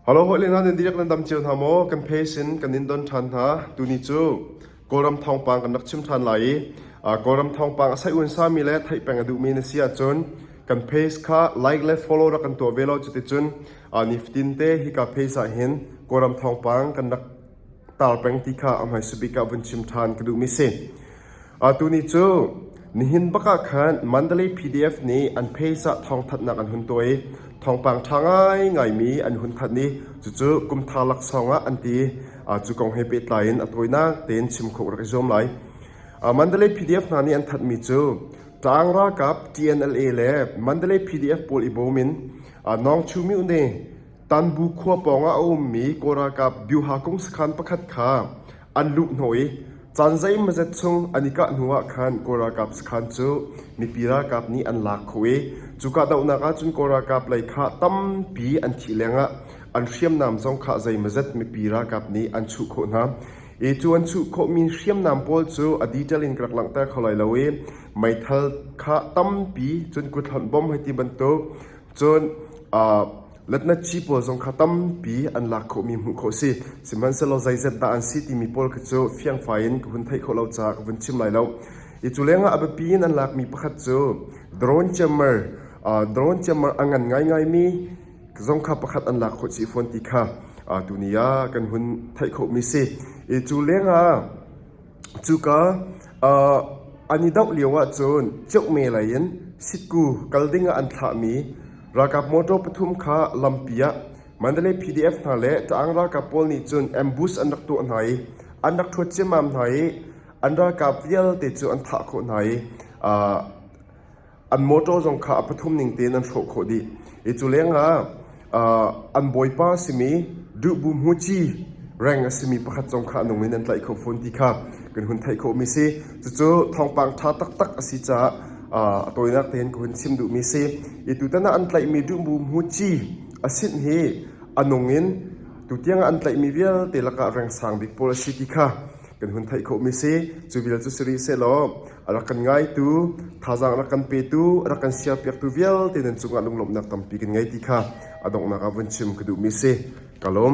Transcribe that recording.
Halo hawi le hna nan dihlak nan dam cio hna maw? Kan phase in kan in don ṭhan hna. Tuni cu Kawlram thawngpang kan rak chim ṭhan lai i Kawlram thawngpang a saihhuansami le theih peng a duhmi na si ahcun kan phase kha like le follow rak kan tuah ve law cuticun nifatin te hika phase ah hin Kawlram thawngpang kan rak tar peng ti kha a hmaisa bik ah vun chim ṭhan ka duhmi si. Atu ni cu nihin bak ah khan Mandalay PDF nih an page ah thawngthanhnak an hun tuah i thawngpang ṭha ngaingaimi an hun thanh i cucu kumthar laksawng ah an ti. Cu kong he pehtlai in a tawinak tein chim khawh rak i zuam lai. Mandalay PDF hna nih an thanhmi cu Tlang ralkap TNLA le Mandalay PDF pawl i bawm in Nawngchumi Une Tanbu khua pawngah a ummi Kawl ralkap Byuha kung sakhan pakhat kha an luhhnawh i caan zeimazet chung an i kah hnuah khan Kawl ralkap sakhan cu mipi ralkap nih an lak khawh i cu kahdohnak ahcun Kawl ralkap lei kha tampi an thih lengah an hriamnam zong kha zeimazet mipi ralkap nih an chuh khawh hna. Hi cu an chuh khawhmi hriamnam pawl cu a detail in ka rak langhter kho lai lo i meithal kha tampi cun kut hlonh bom hei ti bantuk Cun letnathi pawl zong kha tampi an lak khawhmi hmuh khawh a si. Sihmanhsehlaw zeizat dah an si timi pawl kha cu fiangfai in ka hun theih khawh lo caah ka vun chim lai lo. Hi cu lengah a biapi in an lakmi pakhat cu drone ciammer drone ciammer a ngan ngaingaimi zong kha pakhat an lak khawh si fawn ti kha tuni ah kan hun theih khawhmi si. Hi cu lengah Cuka an i doh lioah cun Ceuhme lei in Sitku kal dingah an thlahmi ralkap motor pathum kha lampi ah Mandalay PDF hna le Taang ralkap pawl nih cun ambush an rak tuah hna i an rak ṭhuat ciammam hna i an ralkap vialte cu an thah khawh hna i an mawṭaw zong kha a pathum ning tein an hrawh khawh dih i cu lengah an bawipa a simi duhbu hmuci reng a simi pakhat zong kha a nung in an tlaih kho fawn ti kha kan hun theih khawhmi a si cucu thawngpang ṭha taktak a si caah a tawinak tein ka hun chim duhmi a si i tutan ah an tlaihmi duhbu hmuci a sin hi a nung in tutiang ah an tlaihmi vialte lakah rengsang bik pawl a si ti kha kan hun theih khawhmi a si cu vial cu si rih sehlaw A rak kan ngaitu, thazaang a rak kan petu, a rak kan sialpiaktu vialte nan cungah lunglawmhnak tampi kan ngei ti kha a donghnak ah vun chim ka duhmi a si. Ka lawm.